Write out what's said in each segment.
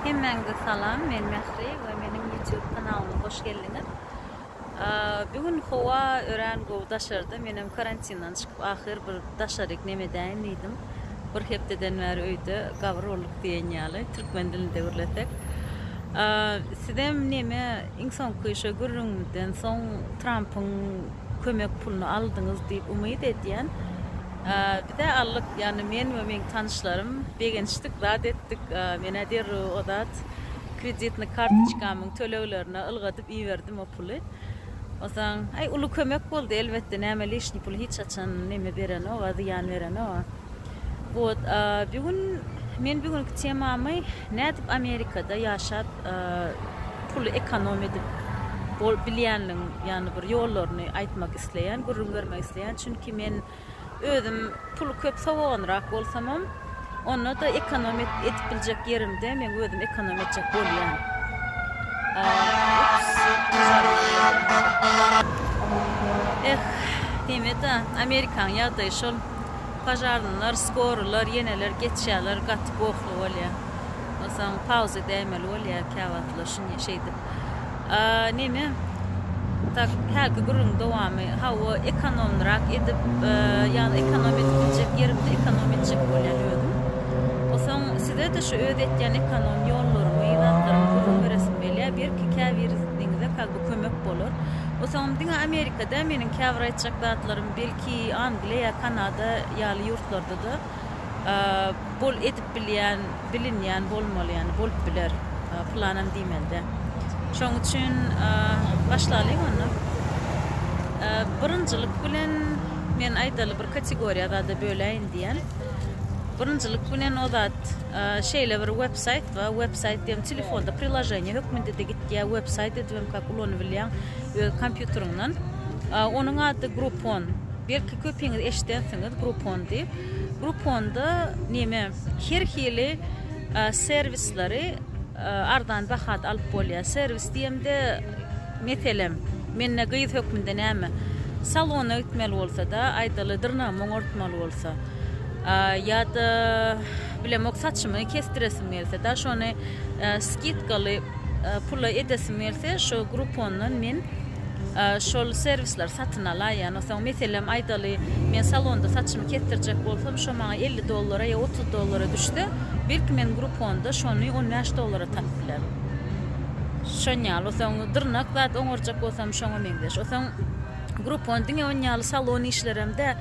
Hemmäňize salam men Mähri we meniň YouTube kanalyma hoş geldiňiz. Bu gün howa örän gowy daşarda. Menem karantindan çykyp ahyr bir daşaryk neme edäýin diýdim. Bir hepdeden bäri öýde gabyr bolduk diýen ýaly türkmen dilinde gürlesek. Sizem neme iň soňky şu gürrüňimizden soň Trampyň kömek puluny aldyňyz diýip umyt edýän. Biz-ä aldyk, ýagny men we meň tanyşlarym begenişdik, zat etdik. Men-ä derrew o zat kreditnyý kartoçkamyň töleglerine ylgadyp iberdim o puly. Onsoň, aý, uly kömek boldy, elbetde, näme lişniý puly hiç haçan neme berenok-a, zyýan berenok-a. Wot, bir gün men bir günki temamy nädip Amerikada ýaşap pul ekonom edip bilýänligiň, ýagny bir ýollaryny aýtmak isleýän, gürrüň bermek isleýän. Çünki men özüm puly köp sowaganrak bolsamam, onda-da ekonom edip biljek ýerimde men özüm ekonom etjek bolýan. Eh, diýme-de, Amerikanyň ýagdaýy şol. Požarnylar, skorylar, ýeneler geçýärler, gaty gohly bolýar. Onsoň pauza däýmeli bolýar käwagtlar şeýdip. neme tak hälki gürrüň dowamy hawa ekonomlyrak edip ýagny ekonom edip biljek ýerimde ekonom etjek bolýan özüm osaň sizede şu öz etýän ekonom ýollarymy zatlarymy gürrüň beresim gelýä belki käbiriniňize kazby kömek bolar osaňam diňe amerika däl meniň käbir aýtjak zatlarym belki angliýa kanada ýaly ýurtlarda-da bol edip bilýän, bilinýän bolmaly, ýagny bolup biler, pylanam diýmelide. Şoň üçin başlalyň onda. Birinjilik bilen men aýdaly bir kategoriýa zada böläýin diýen. Birinjilik bilen o zat şeýle bir websaýt we websaýt diýen telefonda priloženiýa hökmünde-de gitýär, websaýt edibem kak ulanybilýäň öz kompýuteriňden. Onuň ady Groupon. Belki köpiňiz eşidensiňiz Groupon diýip. Grouponda neme her hili serwisleri arzan bahada alyp bolýar. Serwis diýemde meselem mende gyz hökmünde näme salona gitmeli bolsada aýdaly dyrnagymy oňartmaly bolsa ýa-da bilemok saçymy kesdiresim gelse da şony skidkaly pula edesim gelse şu Groupondan men şol serwisleri satyn alaýýan. Onsoň, meselem, aýdaly, men salonda saçymy kesdirjek bolsam, şo maňa elli dollara ýa otuz dollara düşse, belki, men Grouponda şony on bäş dollara tapyp bilerin. Şon ýaly. Onsoň, dyrnak zat oňarjak bolsam, şoňa meňzeş. Onsoň, Groupon diňe on ýaly salon işlerem däl,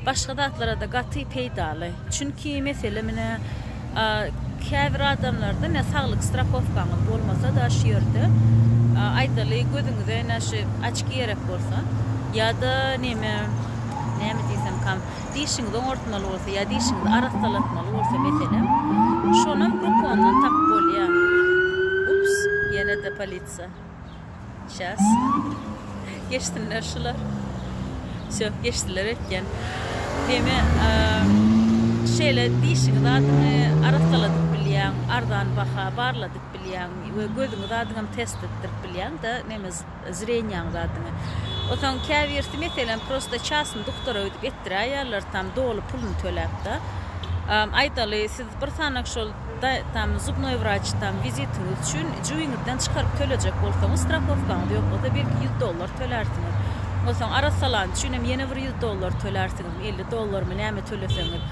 başga zatlara-da gaty peýdaly. Çünki, meselem, ine, Käbir adamlarda ine saglyk strahowkaňyz bolmasa da şu ýerde aýdaly gözüňize ine şu açki gerek bolsa ýa-da neme näme diýsemkam dişiňizi oňartmaly bolsa ýa dişiňizi arassalatmaly bolsa meselem şonam grupondan tapyp bolýa. Ups ýene-de polisiýa. Şas. Geçsinler şular. Söp geçdiler ötken. Demi şeýle dişiňiz adyňy arassaladyp bilýäň, arzan baha barladyp bilýäň we gözüňiz adyňam test etdirip bilýäň da neme zrenýaňyz adyňy. Otaň käbirsi meselem prosta çasny duktora öýdüp etdiräýýärler tam doly puluny töläp da. Aýdaly siz bir sanak şol Da, tam zubnoý wraç, tam wizitiňiz üçin jübiňizden çykaryp tölejek bolsaňyz, strahowkaňyz ýok bolsa, belki ýüz dollar tölärsiňiz. Onsoň arassalany üçin hem ýene bir ýüz dollar tölärsiňizmi, elli dollarmy, näme töleseňiz.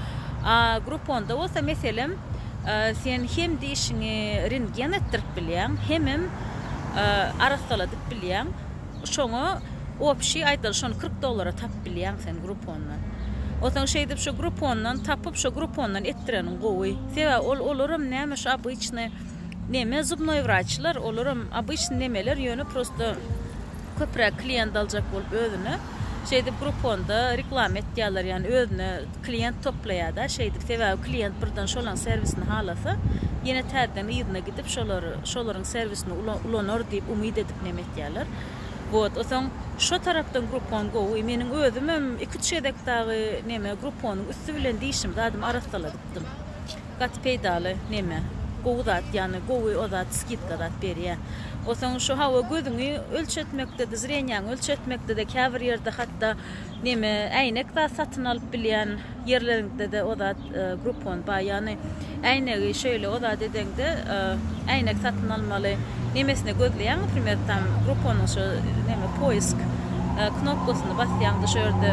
A Grouponda bolsa, meselem, sen hem dişiňi rentgen etdirip bilýäň, hemem arassaladyp bilýäň. Şoňa opşi aýdaly şony kyrk dollara tapyp bilýäň sen grupondan. Onsoň şeýdip şu grupondan tapyp şo grupondan etdireniň gowy. Sebäbi ol olaram näme şu obyçny neme zubnoý wraçlar olaram obyçny nemeler ýöne prosto köpräk kliýent aljak bolup özüne şeýdip gruponda reklama etýäler ýani özüne kliýent toplaýada şeýdip sebäbi kliýent birden şolaň serwisini halasa ýene täzeden yzyna gidip şolary şolaryň serwisini ulanar diýip umyt edip neme aýdýarlar. Wot, soň şo tarapdan gruppon gowy. Meniň özümem iki-üç gezek dagy neme grupponyň üsti bilen dişimi zadym arassaladypdym. Gaty peýdaly neme, gowy zat, ýagny gowy o zat skidka zat berýär. Soň şu hawa gözüňi ölçetmekde-de, zrenýaňy ölçetmekde-de käbir ýerde hatda Neme äýnek zat satyn alyp bilýän ýerleriňdede o zat groupon bar ýagny äýnegi şeýle o zat edeňde äýnek satyn almaly nemesine gözleýäň naprimer tam grouponyň şu neme poisk knopkasyny basýaňda şu ýerde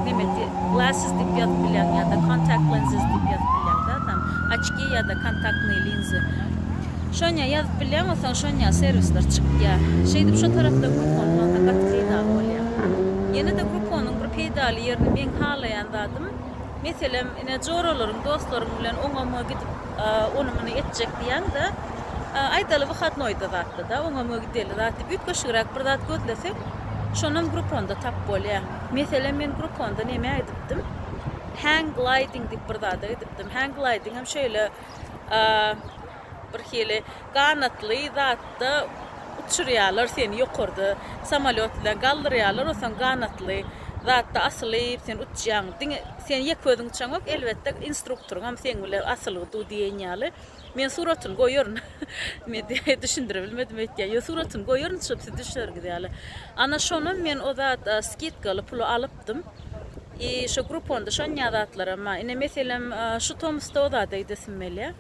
neme glasses diýip ýazyp bilýäň ýada contact lenses diýip ýazyp bilýäň zat tam oçki ýada kontaktnyý linzy Şoňa ýazyp bilýäň bolsaň şoňa serwisler çykýa. Şeýdip şo tarapda Groupon bolsa gaty peýdaly bolýa. Ýenede Grouponyň bir peýdaly ýerini meň halaýan zadym meselem ine joralaryň dostlaryň bilen oňa muňa gidip ony muny etjek diýäňde aýdaly wyhatnoýda zatda da oňa muňa gideli zat diýip üýtgeşigräk bir zat gözleseň şonam Grouponda tap bolýa. Meselem men Grouponda nämä gidipdim? Hang gliding diýip bir zada gidipdim. Hang glidingem şeýle bir hili ganatly zatda uçurýarlar seni ýokarda samolýot bilen galdyrýarlar osaň ganatly zatda asylyp sen uçýaň diňe sen ýek özüň uçaňok elbetde instruktoryňam seň bilen asylgy du diýen ýaly men suratyny goýaryn men düşündiribilmedim öýtýän ýok suratyny goýaryn uçup siz düşerňiz ýaly ana şonam men o zat skidkaly puly alyp tapdym. I şo gruponda şonýa zatlaram bar. Ine meselem şu tomusda o zada gidesim gelýä.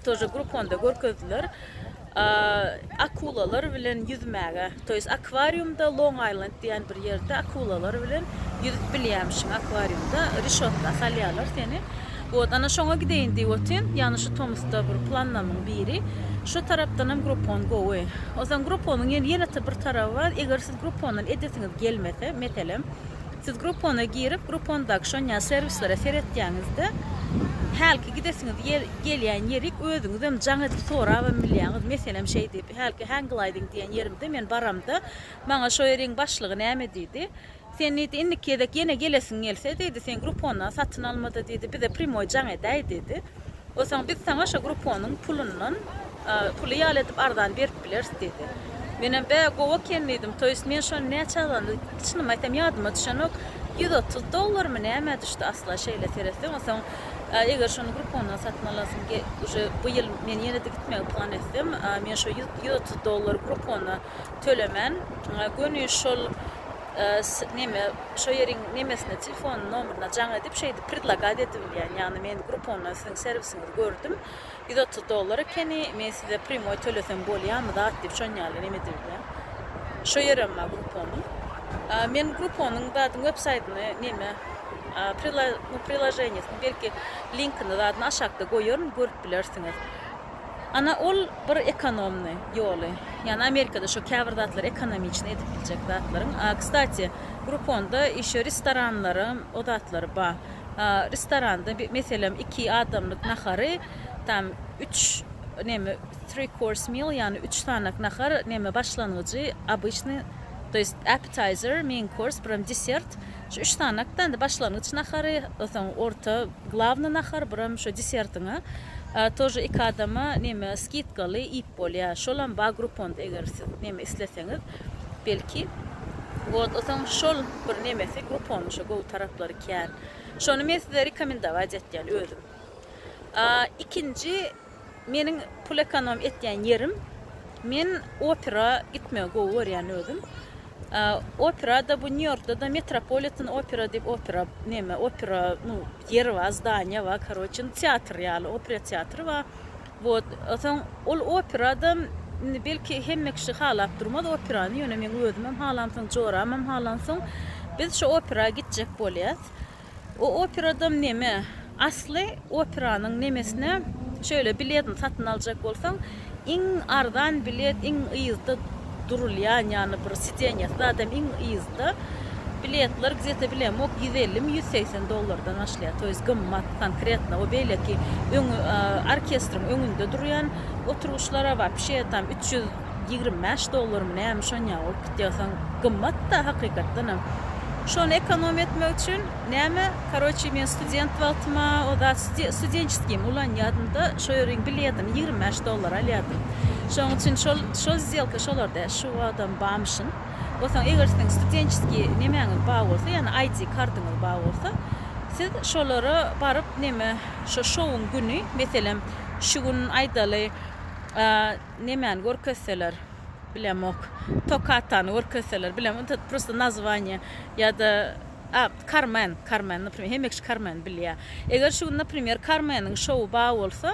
Tože gruponda görkezdiler. Akulalar bilen ýüzmäge. To ýes akwariumda Long Island diýen bir ýerde akulalar bilen ýüzüp bilýämişiň akwariumda. Rişotga salýarlar seni. Wot ana şoňa gideýin diýip otyryn. Ýagny şu tomusda bir planlarymyň biri. Şu tarapdanam grupon gowy. Ozan gruponyň ýene-de bir taraby bar. Eger Groupondan edesiňiz gelmese, meselem, siz Groupona girip, Groupondaky şon ýaly serwislere seretýäňizde, hälki gidesiňiz ýer, gelýän ýerik özüňizem jaň edip sorabam bilýäňiz. Meselem, şeý diýip, hälki Hang Gliding diýen ýerimde men baramda, maňa şo ýeriň başlygy näme diýdi? Sen diýdi, indiki gezek ýene gelesiň gelse diýdi, sen Groupondan satyn alma-da diýdi, bize primoý jaň edäý diýdi. Bolsaň biz saňa şo grupponyň pulundan puly ýaly edip arzany berip bileris diýdi. Menem bä gowy eken diýdim. To ýest men şony näçe azandy içnimi aýtsam ýadyma düşenok. Ýüz otuz dollarmy nämä düşdi asla şeýle seretseň. Onsoň eger şony gruppondan satyn alasym uje bu ýyl men ýene-de gitmegi plan etsem men şo ýüz otuz dollary gruppona tölemän göni şol neme şo ýeriň nemesine telefon nomeryna jaň edip şeýdip predlagat edibilýän ýagny men grupondan siziň serwisiňizi gördüm ýüz otuz dollar ekeni men size prýmoý tölesem bolýamy zat diýip şon ýaly neme edibilýän şo ýerem bar gruponyň men gruponyň zadyň websaýtyny neme prilaženiýesini belki linkini zadyny aşakda goýaryn görüp bilersiňiz. Ana ol bir ekonomny ýoly. Ýani Amerikada şo käbir zatlar ekonomiçni edip biljek zatlaryň. A kstati Grouponda işe restoranlaram o zatlary ba. A restoranda meselem iki adamlyk nahary tam üç neme three course meal ýani üç sanak nahar neme başlangyjy obyçny to ýest appetizer, main course biram desert. Şu üç sany aktanda başlangyç nahary, soň orta, glawny nahar, bir hem şu desertiňi тоже iki adama neme skidkaly iýip bolýar. Şolam bar grupponda eger siz neme isleseňiz belki. Wot soň şol bir nemesi grupponyň şo gowy taraplary kän. Şony men size rekomendować etýän özüm. Ikinji Meniň pul ekonom etýän ýerim, men opera gitmegi gowy görýän özüm. Operada bu Nýu-Ýorkda-da Metropolitan Opera diýip opera neme, opera nu ýeri bar, zdaniýa bar, karoçe, indi teatr ýaly, opera teatry bar. Wot, soň ol operada indi belki hemme kişi halap durmaz operany, ýöne meň özümem halamsoň, joramam halansoň, biz şo opera gitjek bolýas. O operadam neme? Asly operanyň nemesine şöyle biletini satyn aljak bolsaň iň arzan bilet iň yzda durulýan ýany bir sidenýasy zadam iň yzda biletler gzete bilemok ýüz ellimi ýüz segsen dollardan başlaýar toýz gymmat konkretno o beýleki öňi orkestriň öňünde durýan oturgyçlara bar pişeýatam üç ýüz ýigrimi bäş dollarmy näme şonýa bolup gitýär soň gymmatda hakykatdanam şony ekonom etmek üçin näme karoçi men student wagtyma o zat studentçeskiými ulanýadymda şo ýeriň biletini ýigrimi bäş dollara alýardym şoň üçin şol şo zzelka şolarda şu wagtam bamyşyn o soň eger siziň studentçeskiý nemäňiz bar bolsa ýagny aýdi kartyňyz bar bolsa siz şolara baryp neme şo şouň güni meselem şu gün aýdaly Nemäni görkezseler bilemok. Tokatany görkezseler bilemok. Ynha prosta nazwaniýe ýa-da a Karmen, Karmen naprimer hemme kişi Karmeni bilýär. Eger şu gün naprimer Karmeniň şowy bar bolsa,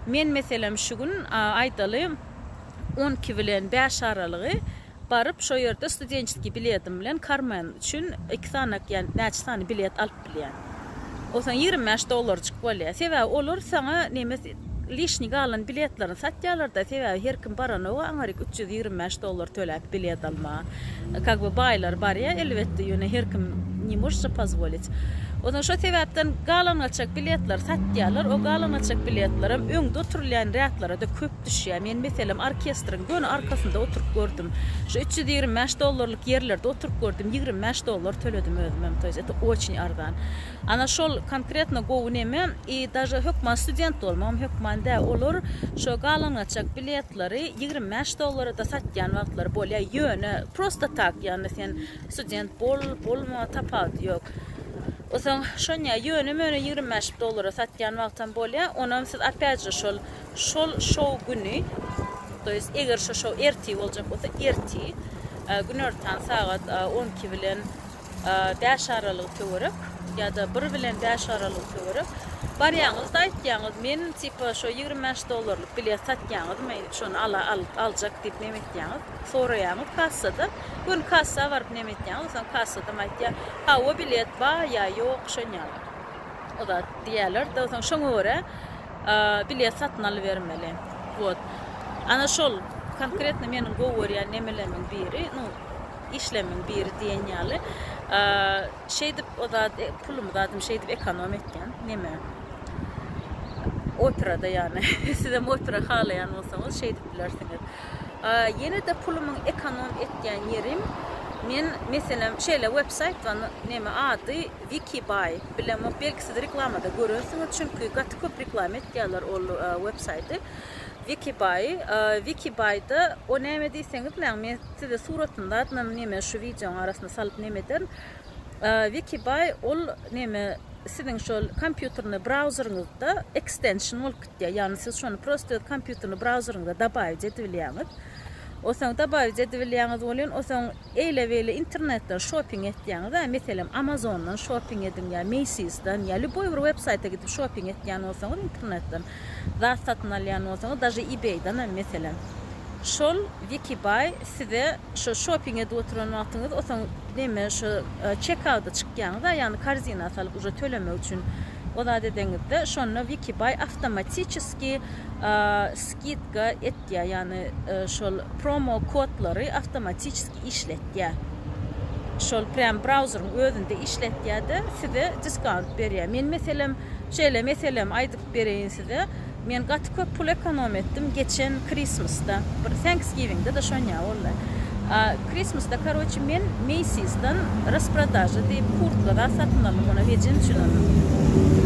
men meselem şu gün aýdaly on iki bilen bäş aralygy, Baryp, şo ýerde studentskiý biledim bilen Karmen üçin iki sany ýa näçe sany bilet alyp bilýän. Ol saňa ýigrimi bäş dollarjyk bolýar. Sebäbi olar saňa nemes lişniý galan biletlerini satýarlar-da, sebäbi her kim baranok-a aňryk üç ýüz ýigrimi bäş dollar töläp bilet almaga. Kak be baýlar barýar, elbetde, ýöne her kim ne может se pozvolit. Onsoň şo sebäpden galan-gaçak biletleri satýarlar. O galan-gaçak biletlerem öňde oturylýan rýadlara-da köp. düşýär. Men meselem orkestriň göni arkasynda oturyp gördüm. Şu üç ýüz ýigrimi bäş dollarlyk ýerlerde oturyp gördüm, ýigrimi bäş dollar töledim özümem, to ýest eto oçin arzan. Ana şol konkretno gowy neme, i daže hökman student bolmagam hökman dä, olar şo galangaçak biletleri ýigrimi bäş dollara da satýan wagtlary bolýar, ýöne prosto tak, ýagny sen student bol, bolma, tapawudy ýok. Osaň şonýa ýöne-möne ýigrimi bäş dollara satýan wagtam bolýar, onam siz opýat je şol Şol şou güni, to ýest eger şo şou ertir boljak bolsa, ertir, günortan sagat on iki bilen bäş aralygy töwerek, ýa-da bir bilen bäş aralygy töwerek barýaňyz-da aýtýaňyz, men tipa şo ýigrimi bäş dollarlyk bilet satýaňyzmy, şony ala al aljak diýip neme etýaňyz, soraýaňyz kassada, göni kassa baryp neme etýaňyz, soň kassadam aýtýar, hawa bilet bar ýa ýok, şonýaly o zat diýerler-de, soň şoňa görä, Bilet satyn alybermeli. Wot. Ana şol konkretno meniň gowy görýän nemelemiň biri, nu, işlemiň biri diýen ýaly. Şeýdip o zat, pulumy zadym şeýdip ekonom etýän. Neme? Operada ýagny. Sizem opera halaýan bolsaňyz şeýdip bilersiňiz. Ýene-de pulumyň ekonom etýän ýerim, men meselem şeýle websaýt bar, neme ady? Wiki Buy bilen belki siz reklamada görensiňiz çünki gaty köp reklama etýärler ol web saýty Wiki Buy Wiki Buyda o näme diýseňiz näň men size suratyny zadynam neme şu wideonyň arasyna salyp neme ederin Wiki Buy ol neme siziň şol kompýuterni brauzeriňizde ekstension bolup gitýär ýagny siz şony prosto öz kompýuterni brauzeriňize dabawic edibilýäňiz osaň dabawic edibilýäňiz welin osaň Eýle-beýle internetden şoping etýäňiz-ä, meselem, Amazondan şoping ediň ýa Macy's-dan ýa lýuboý bir websaýta gidip şoping etýän bolsaňyz internetden, zat satyn alýan bolsaňyz, daže eBay-dan hem meselem, şol Wikibuy size şo şoping edip oturan wagtyňyz otaň neme şo çekauda çykýaňyz-a, ýagny korzina salyp uje tölemek üçin o zat edeňizde, şonda Wikibuy awtomatiçeski skidka etýär, ýagny şol promo kodlary awtomatiçeski işletýär. Şol prýam brauzeriň özünde işletýär-de, size diskount berýär. Men meselem, şeýle meselem aýdyp bereýin size. Men gaty köp pul ekonom etdim geçen Krismasda, bir Thanksgiving-de daşonýar boldy. Christmasda karoçe men Macy'sdan rasprodaža diýip kurtka zat satyn aldym ony hejen üçin aldym.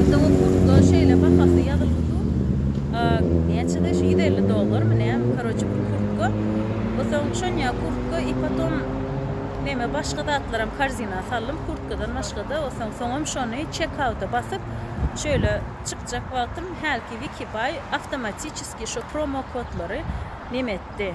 Onda o kurtka şeýle bahasy ýazylgy dur näçede şu ýüz elli dollarmy nämi karoçe bir kurtka we soň şonýa kurtka i potom neme başga zatlaram karzina saldym kurtkadan başgada we soň soňam şony çek auta basyp şeýle çykjak wagtym hälki wikibuy awtomatiçeski şu promo kodlary neme etdi.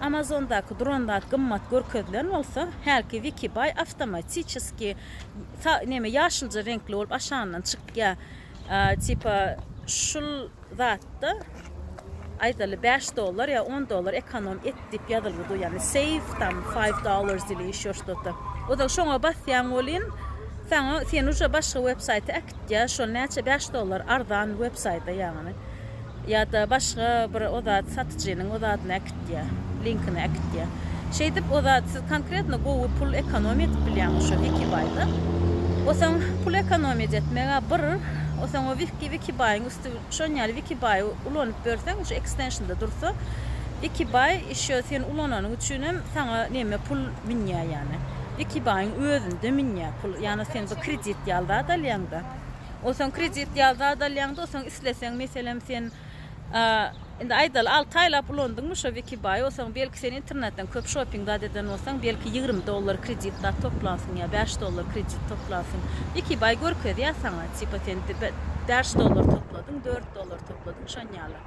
Amazondaky duran zat gymmat görkezilen bolsa, hälki Wikibuy awtomatiçeski neme ýaşylja reňkli bolup aşagyndan çykýar. Tipa şul zatda aýdaly bäş dollar ýa on dollar ekonom et diýip ýazylgy dur, ýagny save tam five dollars ili ýeşo ştoto. Ozal şoňa basýaň welin saňa seni uje başga websaýta äkitýär, şol näçe bäş dollar arzan websaýta ýagny. Ýa-da başga bir o zat satyjynyň o zadyny äkitýär, linkini äkitýär. Şeýdip o zat siz konkretno gowy pul ekonomiýa edip bilýäňiz şo Wikibaýda. O soň pul ekonomiýa etmeg-ä bir, o soň o wiki Wikibaýyň üsti şon ýaly Wikibaýy ulanyp ýörseň şu ekstenşnda dursa Wikibaý ýşo sen ulananyň üçinem saňa neme pul münýär ýani. Wikibaýyň özünde münýär pul ýani sen bir kredit ýaly zat alýaňda. Onsoň kredit ýa zat alýaňda onsoň isleseň meselem sen indi aýdaly alty aýlap ulandyňmy şo wikibaýy onsoň belki sen internetden köp şoping zat eden bolsaň belki ýigrimi dollar kredit zat toplansyň ýa bäş dollar kredit toplansyň wikibaý görkezýär saňa tipa sen bäş dollar topladyň dört dollar topladyň şonýaly.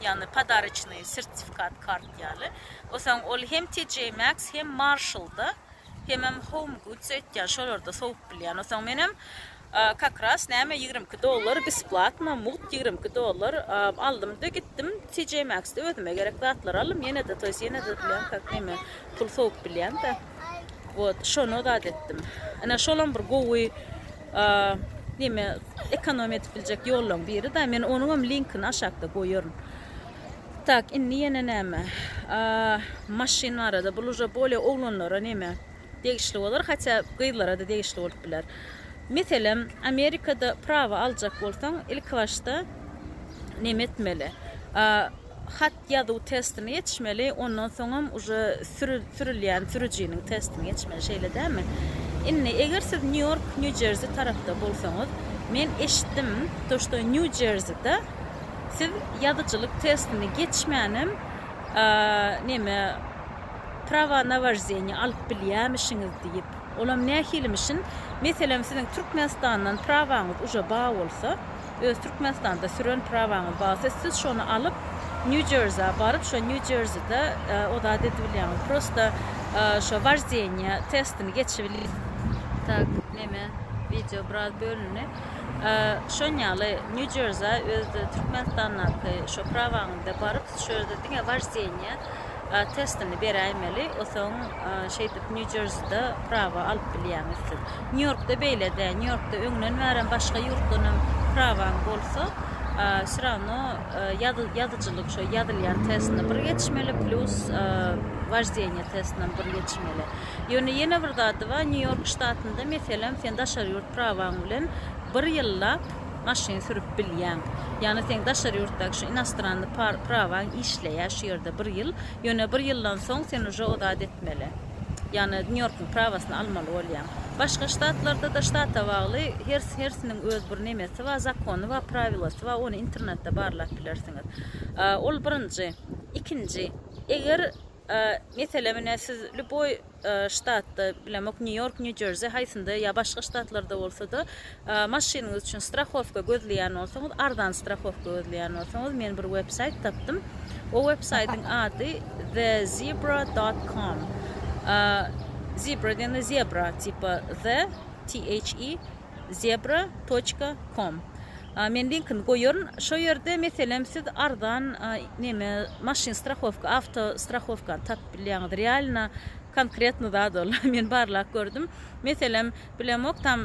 ýagny podariçnyý sertifikat kart ýaly. Osaň ol hem TJ Maxx hem Marshall-da hemem Home Goods aýtýan şolarda sowup bilýän. Osaň menem kakras näme ýigrimi iki dollar besplatno mugt ýigrimi iki dollar aldym-da gitdim TJ Maxx-da özüme gerek zatlary aldym ýene-de to ýest ýene-de bilen kak näme pul sowup bilýän-de. Wot şony zat etdim. Ine şolam bir gowy Näme ekonomiýa edip biljek ýollaň biri-da. Men onuňam linkini aşakda goýaryn. Tak, indi ýene näme? Maşyn barada bul uje bolýa oglanlara näme degişli bolar, hatda gyzlara-da degişli bolup biler. Meselem, Amerikada prawa aljak bolsaň, ilki başda näme etmeli? Hat ýazuw testini geçmeli, ondan soňam uje sürülýän sürüjiniň testini geçmeli, şeýle dälmi? Indi, eger siz Nýu-Ýork, Nýu-Jerzi tarapda bolsaňyz, men eşitdim, to, što Nýu-Jerzide siz ýazyjylyk testini geçmänem, neme, prawa na woždeniýe alyp bilýämişiňiz diýip. Olam nähilimişin? Meselem, siziň Türkmenistandan prawaňyz uje bar bolsa, öz Türkmenistanda süren prawaňyz barsa siz şony alyp New Jersey baryp şo New Jerseyda o zady edibilýäňiz prosta şo wojdenýe testini geçibilýäňiz. Tak neme wideo biraz bölündi. Şon ýaly New Jersey öz Türkmenistandaky şo prawaňyzda baryp siz şo ýerde diňe wojdenýe testini beräýmeli, osaň şeýdip Nýu Jerside prawa alyp bilýäňiz siz. Nýu Ýorkda beýle däl, Nýu Ýorkda öňden bärem başga ýurtdan hem prawaň bolsa, wsy rawno ýazyjylyk şo ýazylýan testini bir geçmeli, plýus woždeniýe testinem bir geçmeli. Ýöne ýene bir zady bar, Nýu Ýork ştatynda meselem sen daşary ýurt prawaň bilen bir ýyllap, maşyn sürüp bilýäň. Ýagny seň daşary ýurtdaky şu inostranny prawaň işleýär şu ýerde bir ýyl. Ýöne bir ýyldan soň sen uje o zat etmeli. Ýagny Nýu Ýorkuň prawasyny almaly bolýaň. Başga ştatlarda-da ştata bagly her hersiniň öz bir nemesi bar, zakony bar, prawilosy bar, ony internetde barlap bilersiňiz. Ol birinji. Ikinji, eger Meselem, ine, siz lýuboý ştatda, bilemok, Nýu-Ýork, Nýu-Jersi, haýsynda ýa başga ştatlarda bolsa-da, maşynyňyz üçin strahowka gözleýän bolsaňyz, arzan strahowka gözleýän bolsaňyz, men bir websaýt tapdym. O websaýtyň ady The Zebra dot com. Zebra diýende zebra, tipa the, THE, zebra toçka kom men linkini goýaryn şo ýerde meselem siz arzan neme maşyn strahowka awto strahowkany tapyp bilýäňiz realno konkretno zat ol men barlap gördüm meselem bilemok tam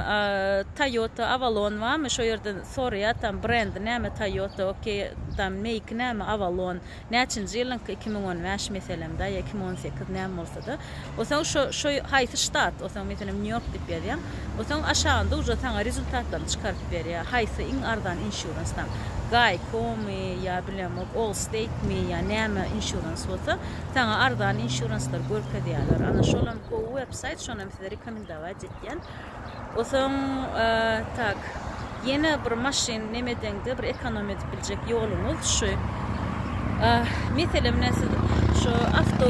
toyota avalon barmy şo ýerden soraýar tam brendi näme toyota okey tam meýki näme avalon Näçinji ýylyňky iki müň on bäş meselem daýy iki müň on sekiz näme bolsada osaň şo şo haýsy ştat osaň meselem nýu ýork diýip ýazýaň osaň aşagynda uža saňa rezultatlaryny çykaryp berýä haýsy iň arzan insurance-dan gaýkomy ýa bilemok olsteytmi ýa näme insurance bolsa saňa arzan insurance-lar görkezýäler ana şolam gowy websaýt şonam size rekomendawaýt etýän. Osoň tak. Ýene bir maşyn nemedeňde bir ekonom edip biljek ýoluňyz şu. Meselem ne siz şu awto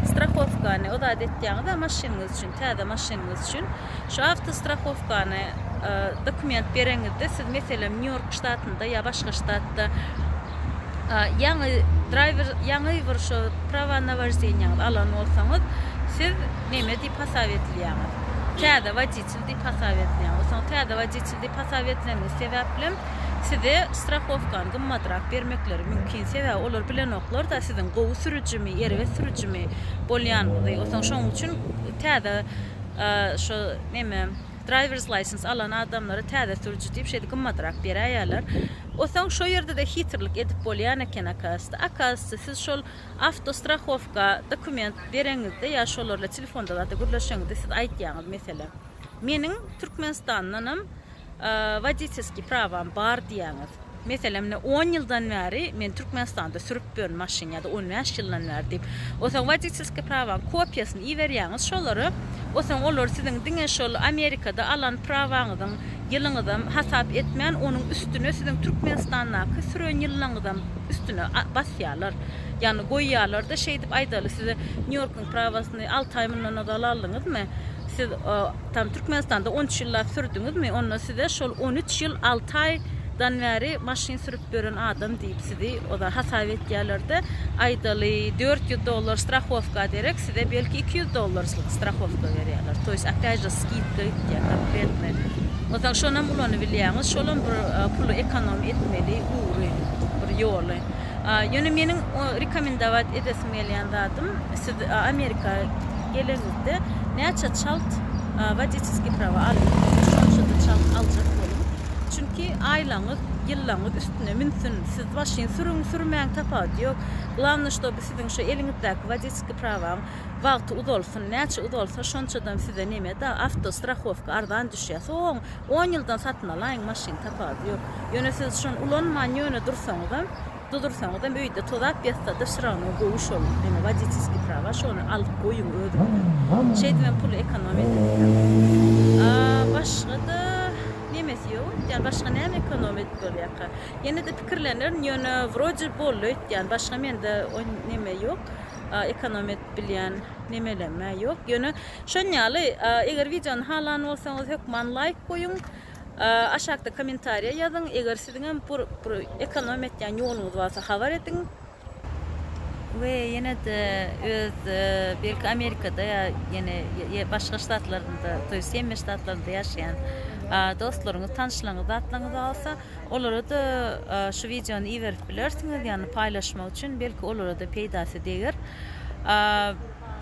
strahowkany ozat etýäňiz-ä maşynyňyz üçin, täze maşynyňyz üçin. Şu awto strahowkany dokument bereňizde siz meselem Nýu-Ýork ştatynda ýa başga ştatda ýaňy draýwer ýaňy bir şu prawa na wojdenýaňyzy alan bolsaňyz siz Neme diyip hasap edilýäňiz? Täze wodiçel diyip hasap edilýän. Osaň täze wodiçel diyip hasap edileniňiz sebäplem size strahowkany gymmadrak bermekleri mümkin. Sebäbi olar bilenoklar-da siziň gowy sürüjimi, erbet sürüjimi bolýanyňyzy. Osaň şoň üçin täze şo neme drivers license alan adamlara täze sürüji diyip şeýdi gymmadrak beräýýärler. Osaň şo ýerde-de hitirlik edip bolýan eken akasda. Akasda siz şol Awtostrahowka dokument bereňizde ýa şolarla telefonda zat-a gürleşeňizde siz aýtýaňyz meselem, Meniň Türkmenistandanam woditelskiý prawam bar diýýäňiz. Meselem, ine, on ýyldan bäri men Türkmenistanda sürüp ýörün maşyn ýa-da on bäş ýyldan bäri diýip. Onsoň woditelskiý prawaň kopiýasyny iberýäňiz şolara. Onsoň olar siziň diňe şol Amerikada alan prawaňyzyň ýylyňyzam hasap etmän onuň üstüne siziň Türkmenistandaky süren ýyllaňyzam üstüne basýarlar. Ýagny goýýarlarda şeýdip aýdaly size Nýu Ýorkuň prawasyny alty aý mundan ozal aldyňyzmy? Siz tam Türkmenistanda on üç ýyllap sürdüňizmi? Onda size şol on üç ýyl alty aýdan bäri maşyn sürüp ýören adam diýip. Sizi oda hasap etýärlerde aýdaly dört ýüz dollar strahowka derek size belki iki ýüz dollarçylyk strahowka berýärler toýs apyajda skidka gitýär konkretny otaň şonam ulanybilýäňiz şolam bir puly ekonom etmeli ugry bir ýoly ýöne meniň rekomendować edesim gelýän zadym siz amerika geleňizde näçe çalt wodiçeskiý prawa aldyňyz şonçada çalt aljak boluň. ki aýlaňyz ýyllaňyz üstüne münsün siz maşyn sürüň sürmäň tapawudy ýok glavnoý şto bu siziň şu eliňizdäki woditeskiý prawaň wagty uzalsyn näçe uzalsa şonçadam size neme da awto strahowka arzan düşýä soň on ýyldan satyn alaýyň maşyn tapawudy ýok ýöne siz şony ulanman ýöne dursaňyzam Dudursaňyzam öýde tozap ýatsa da şrawnoo gowy şol ene woditiskiý prawa şony alyp goýuň özüňize şeýdibem pul ekonom edilýär a başga da nemesi ýok öýtýän başga näme ekonom edip bolýaka ýenede pikirlenerin ýöne wrode boldy öýtýän başga mende oý neme ýok a ekonom edip bilýän nemeleme ýok ýöne şon ýaly a eger wideony halan bolsaňyz hökman laýk goýuň. Aşakda kommentariýa ýazyň, eger siziň hem bir bir ekonomiýa etýän ýoluňyz barsa habar ediň. We ýene-de öz belki Amerikada ýa ýene başga ştatlarynda, to ýest Semmi ştatlarynda ýaşaýan dostlaryňyz, tanyşlaryňyz, zatlaryňyz barsa, olara-da şu wideony iberip bilersiňiz, ýagny paýlaşmak üçin, belki olara-da peýdasy deger.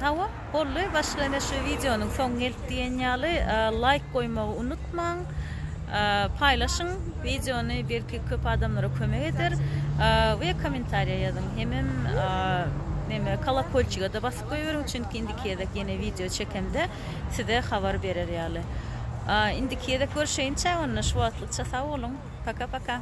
Hawa boldy başga ine şu wideonyň soňy gelip diýen ýaly laýk goýmagy unutmaň paýlaşyň wideony belki köp adamlara kömek eder we kommentariýa ýazyň hemem neme kolokolçigede basyp goýberiň çünki indiki gezek ýene wideo çekemde size habar berer ýaly indiki gezek görşeýinçä onda şu wagtlykça sag boluň paka paka.